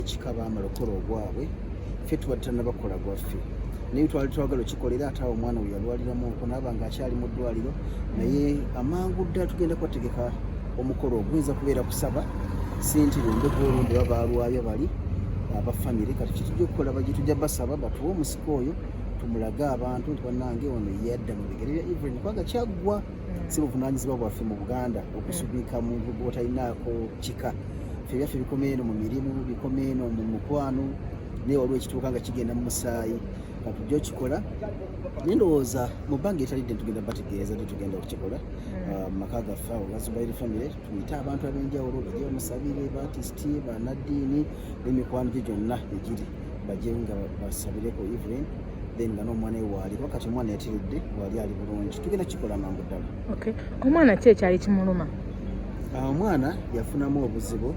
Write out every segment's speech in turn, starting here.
kika baamala okukola ogwabwe ffe tuba tutanabakola gwaffe naye twali twagala okikolera ate awo omwana oyo yalwaliramu okunaaba nga akyali mu ddwaliro naye amangu ddala tugenda kubategeka omukolo oguyinza kubeera kusaba sente lwembega olumbe ba baalwayo bali abafamire kati kyetujja okukola baje tujja basaba batuwe omusika oyo tumulage abantu nti banange ono yadda mu bigere bya evren kubanga kyaggwa si buvunaanyizibwa bwaffe mu buganda okusubika muntu gwotalinaako kika fe byaffe bikoma eno mu mirimu bikoma eno mu mukwano naye waliwo ekituuka nga kigenda mu musaayi katujja okikola naye ndowooza mu bbanga etalidde tugenda bategeeza nti tugenda okukikola hmm. ah, mu maka gaffe awo gazubairi famire tuyite abantu ab'enjawulo bajje bamusabire batisiti banaddiini n'emikwano gye gyonna egiri bajje nga basabireko evelyn then nga n'omwana we waali kuba kati omwana yatiridde waali ali bulungi tugenda kikola mangu ddala omwana ki ekyali kimuluma ah, omwana yafunamu obuzibu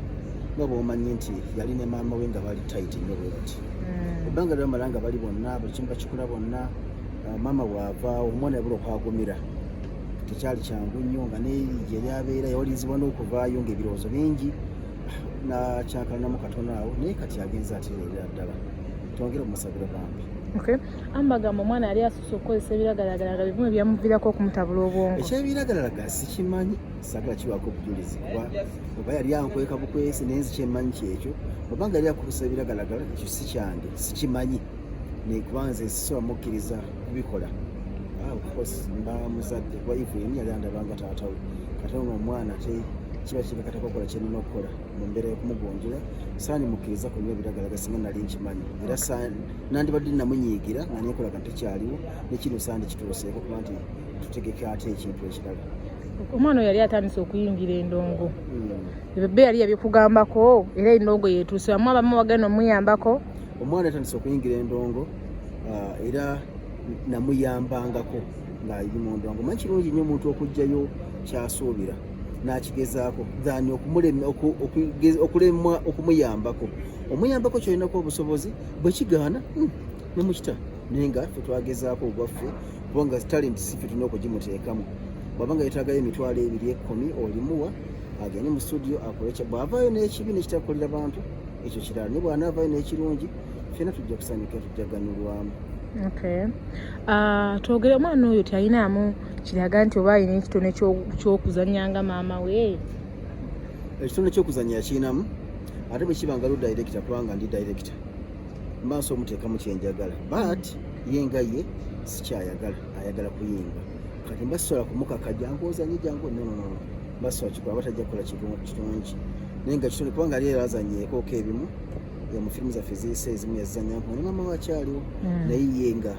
nga bwomanyi nti yali ne maama we nga bali tayiti nyo bwe bati hmm. ebbanga lyamala nga bali bonna buli kimu bakikola bonna ah, maama waavaawo omwana yabula okwagumira tekyali kyangu nnyo nga neyerija eryabeera yawalirizibwa n'okuvaayo nga ebirowoozo bingi nakyankalanamu katono awo naye kati agenza atereera ddala twongere omusabira bambi ambagambo omwana yali asusa okukozesa ebiragalalagala bivumu ebyamuvirako okumutabula obwongo ekyebiragalalagala sikimanyi sagala kiwaako obujulizi kuba oba yali ankweka bukwesi nenzi kyemanyi kyekyo obanga yali akukozesa ebiragalalagala ekyo sikyange sikimanyi nekuba nze sisobola mukkiriza kubikola ah, mba muzadde kuba ivu yeni yali andabanga taata we kata ono omwana te kiba kibekatako okola kyenina okukola mu mbeera yokumugonjola saani mukkiriza ku nyo ebiragalaga singa nali nkimanyi era nandibadde namunyiigira nga nekolaga ntekyaliwo nekino saani kituuseeko kuba nti tutegeke ate ekintu ekirala omwana oyo yali atandise okuyingira endongo hmm. ebebe yali yabyokugambako era endongo yetuuse amu abamu bagenda omuyambako omwana yatandise okuyingira endongo ah, era namuyambangako ng'ayiri mu ndongo manyi kirungi nnyo omuntu okugjayo kyasuubira n'akigezaako than okulemwa okumuyambako omuyambako kyolinako obusobozi bwe kigaana hmm, nemukita naye nga fe twagezaako ogwaffe kubanga talenti si fe tulina okugimuteekamu bwaba nga yetaagayo emitwalo ebiri ekkumi olimuwa agende mu studio akole kya bw'avaayo n'ekibi nekitakolera bantu ekyo kirala ne bw'anaavaayo n'ekirungi fena tujja kusanyuka tujja ganyulwamu ah, twogere omwana oyo tyalinamu kiraga nti oba alina ekitone kyokuzanya nga maama we ekitone kyokuzanya yakirinamu ate bwekiba nga lu directa kubanga ndi directa mba nsi omuteekamu kyenjagala but ye nga ye sikyayagala ayagala kuyimba kati mba sisobola kumukaka jangu ozanye jangu nononono Basso akikola batajja kukola kirungi naye nga kitone kubanga ali era azanyeekooko ebimu mu firimu zaffe ziyise ezimu yazizanya nkuba ne maama wakyaliwo hmm. naye ye nga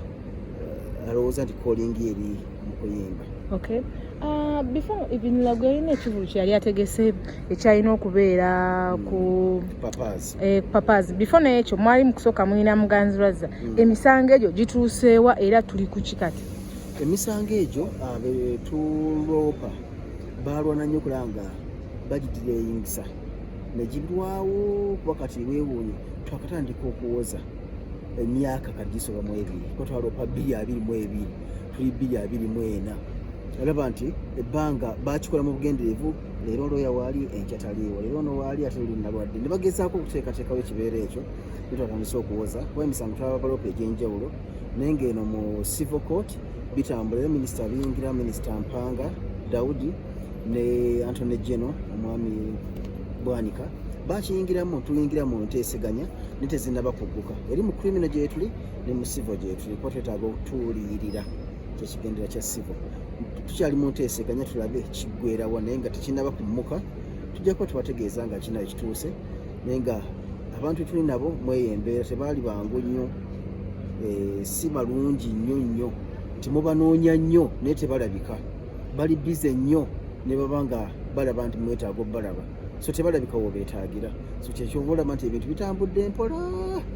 eh, alowooza nti kolingi eri mu kuyimba okay uh, before even lagu yalina ekivulu kyeyali ategese ekyalina okubeera hmm. ku eh, papas before naye ekyo mwali mukusooka mulina muganzi razza hmm. emisango egyo gituuseewa era tuli ku kikati emisango egyo ah, tuloopa baalwana nnyo kulanga bagitira eyingisa negirwawo kuba kati wewuunye twakatandika okuwoza emyaka kati gisoba mu ebiri kuba twaloopa bbiri abiri mu ebiri tuli bbiri abiri mu ena alaba nti ebbanga bakikola mu bugenderevu leero looya waali enkya taliiwo leero ono waali ate luli nalwadde ne bagezaako okuteekateekawo ekibeera ekyo netwatandisa okuwoza kuba emisango twababalopa egy'enjawulo naye ng'eno mu civil court bitambula minisita biyingira minisita mpanga daudi ne antony geno omwami bwanika bakiyingiramu tuyingira mu nteeseganya ne tezinaba kugguka eri mu krimino gyetuli ne mu sivo gyetuli kuba twetaaga okutuuliyirira kyekigendera kya sivo tukyali mu nteeseganya tulabe kiggwerawa naye nga tekinaba kumuka tujja kuba tubategeeza nga kinayo kituuse naye nga abantu tuli nabo mweyo embeera tebaali bangu nnyo eh, si malungi nnyo nnyo nti mubanoonya nnyo naye tebalabika bali bize nnyo ne baba nga balaba nti mwetaaga obalaba so tebalabika wobeetaagira so kyekyova olaba nti ebintu bitambudde mpola hmm.